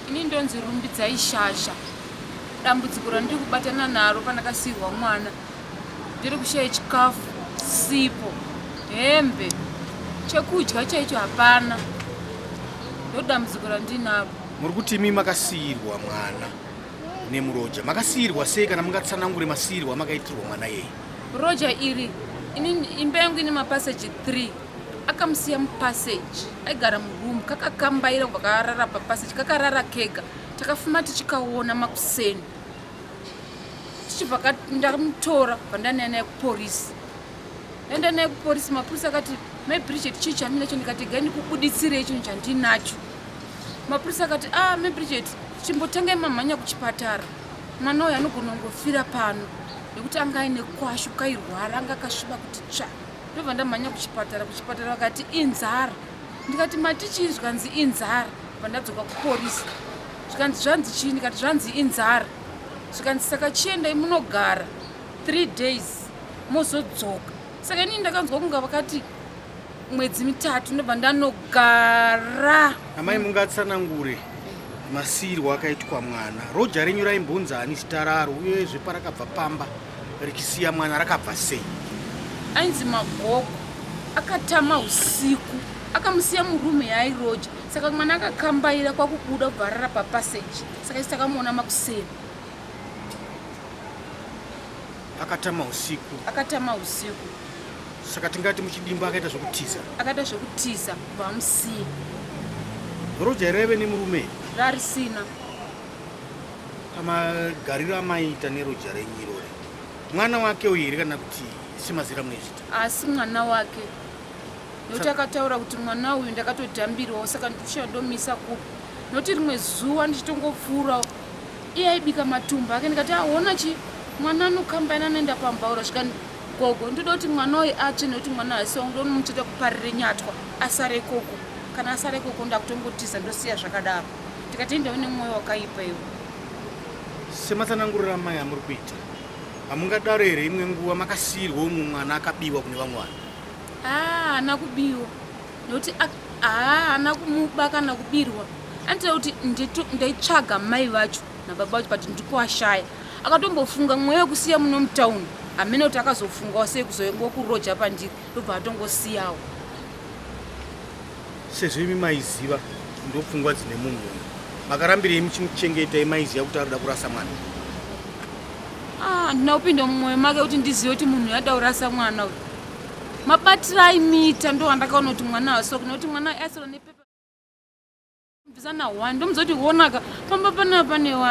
Ini ndonzi Rumbidzai Shasha. Dambudziko randiri kubatana naro pandakasiirwa mwana ndiri kushaya chikafu, sipo, hembe, chekudya chaicho hapana. Ndodambudziko randinaro. Muri kuti imi makasiirwa mwana nemuroja. Makasiirwa sei kana mungatsanangure masiirwa makaitwa mwana yeye? Roja iri ini imba yangu ine mapaseji 3 akamusiya mupassage aigara muroom kakakambaira kubva karara papassage kakarara kega takafuma tichikaona makuseni tichibva ndamutora vandanaye naye kuporisi enda naye kuporisi mapurisi akati mai bridget chii chaminacho ndikati gai ndikubuditsirei chinhu chandinacho mapurisi akati a ah, mai bridget chimbotangai mamhanya kuchipatara mwana uyo anogona kungofira pano nekuti anga aine kwashu kairwara anga akasviba kuti tsvaa ndobva ndamhanya kuchipatara kuchipatara vakati inzara ndikati matichii zvikanzi inzara bva ndadzoka kuporisi zvikanzi zvanzi chii ndikati zvanzi inzara zvikanzi saka chiendai munogara three days mozodzoka saka inini ndakanzwa kunga vakati mwedzi mitatu ndobva ndanogara amai mungatsanangure masiyirwo akaitwa mwana roja renyu raimbunza ani zita raro uyezve parakabva pamba richisiya mwana rakabva sei ainzi magogo akatama usiku akamusiya murume yaairoja saka mwana akakambaira kwakubuda kubvarara papaseji saka isi takamuona makuseni akatama usiku akatama usiku saka tingati muchidimba akaita zvekutiza akaita zvekutiza kubva amusiya roja raive nemurume rarisina pamagariro amaiita neroja renyu irori mwana wake uyu here kana kuti semazira munoizvita asi mwana wake nokuti akataura kuti mwana uyu ndakatodhambirwawo saka ndikushaya ndomisa kupi nokuti rimwe zuva ndichitongopfuurawo iye aibika matumbu ake ndikati aona chi mwana anokambaina anoenda pambaura svika gogo ndoda kuti mwana uyu atsve nokuti mwana aisiwa ndonomuchita kuparire nyatwa asare koko kana asare koko ndakutongotiza ndosiya zvakadaro Tikatenda une mwoyo wakaipa iwe. Sematsanangurira mai amuri kuita. Hamungadaro here imwe nguva makasiirwa umwe mwana akabiwa kune vamwe vanhu? Ah, ana kubiwa. Nokuti ah, ana kumuba kana kubirwa. Anitira kuti ndaitsvaga mai vacho nababa vacho but ndikuwashaya. Akatombofunga mweya wekusiya muno mutauni. Hamene kuti akazofungawo sei kuzoengokuroja pandiri ndobva atongosiyawo. Sezvo imi maiziva ndopfungwa dzine munhu uyu, makarambirei muchimuchengeta imaiziva kuti arikuda kurasa mwana? handina kupinda mumwoyo make kuti ndizive kuti munhu yada urasa mwana uyu mabatira aimiita ndo wandakaona kuti mwana asoki nokuti mwana aisira nepepa mbisa na one ndomuza kuti honaka pamba pana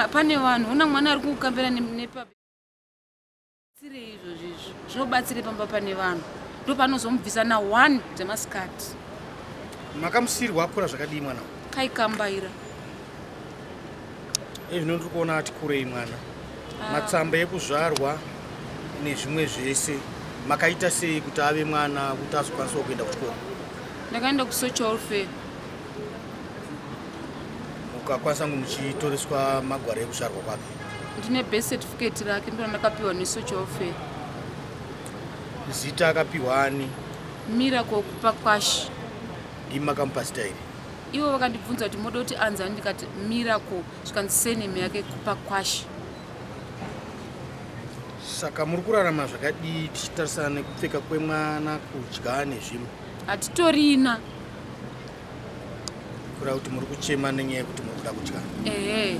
pane vanhu hona mwana ari kukambira nepape tsirei izvozvi izvi zvinobatsirei pamba pane vanhu ndopanozomubvisa na one dzemasikati makamusiyirwa akura zvakadii mwana kaikambaira ezvino ndiri kuona ati kurei mwana ah. matsamba ekuzvarwa nezvimwe zvese makaita sei kuti ave mwana kuti azokwanisawo kuenda kuchikoro ndakaenda kusocial fair ukakwanisa kunge muchitoreswa magwaro ekuzvarwa kwake ndine birth certificate rake ndona ndakapiwa nesocha welfare zita akapiwa ani mira kokupa kwashi ndimi makamupasita here ivo vakandibvunza kuti moda kuti anzi ani ndikati miracle zvikanzi seneme yake kupa kwashi saka muri kurarama zvakadii tichitarisana nekupfeka kwemwana kudya nezvimwe hatitorina kura kuti muri kuchema nenyaya yekuti muri kuda kudya ehe